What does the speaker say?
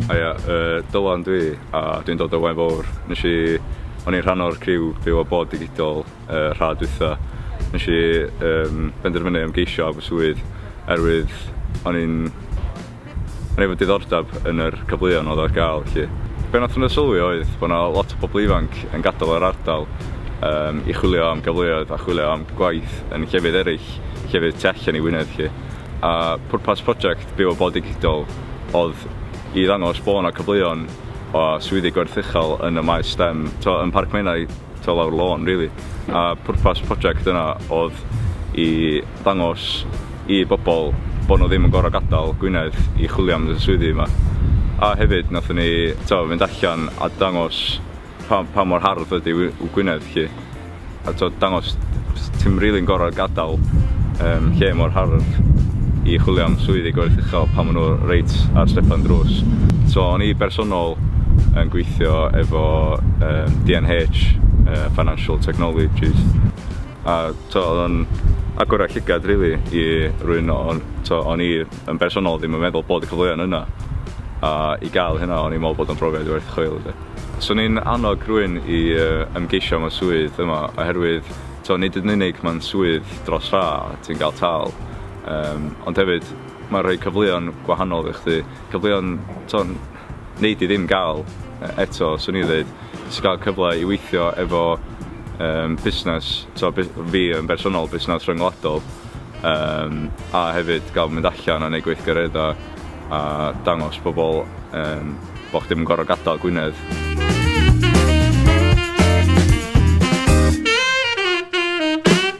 Haia, uh, Dylan dwi, a dwi'n dod o Wain Fawr. Nes i, o'n i'n rhan o'r criw byw a bod digidol uh, rhad dwytha. Nes i um, benderfynu ymgeisio am y swydd, erwydd o'n i'n O'n i efo diddordeb yn yr cyfleon oedd ar gael felly. Be nathon nhw sylwi oedd bod 'na lot o bobl ifanc yn gadael yr ardal yym i chwilio am gyfleoedd a chwilio am gwaith yn llefydd eraill, llefydd tu allan i Wynedd felly. A pwrpas project Byw a Bod Digidol oedd i ddangos bod 'na cyfleon a swyddi gwerth uchel yn y maes stem, t'mo' yn Parc Menai, t'mo' lawr lôn rili. A pwrpas project yna oedd i dangos i bobl bod nhw ddim yn gorfod gadael Gwynedd i chwilio am y swyddi yma. A hefyd nathon ni t'o' fynd allan a dangos pa pa mor hardd ydi Wi- w- Gwynedd 'lly. A t'o' dangos s- ti'm rili'n gor'o' gadal yym lle mor hardd i chwilio am swyddi gwerth uchel pan ma' nw reit ar stepan drws. So o'n i bersonol yn gweithio efo yym Dee En Haitch yy Financial Technologies a t'o' odd o'n agorad llygad rili i rywun o o'n t'o' o'n i yn bersonol ddim yn meddwl bod y cyfleon yna a i ga'l hynna o'n i'n me'wl bod o'n brofiad werth chweil 'de. Swn i'n annog rywun i yy ymgeisio am y swydd yma oherwydd t'o' nid yn unig ma'n swydd dros ffa a ti'n ga'l tâl yym ond hefyd ma'n rhoi cyfleon gwahanol i chdi, cyfleon t'o' nei di ddim gael eto 'swn i'n ddeud, jyst i gael cyfle i weithio efo yym busnes, so bu- fi yn bersonol busnes rhyngwladol yym a hefyd gael mynd allan a neud gweithgaredda a dangos pobl yym bo' chdi'm yn gor'o' gadal Gwynedd.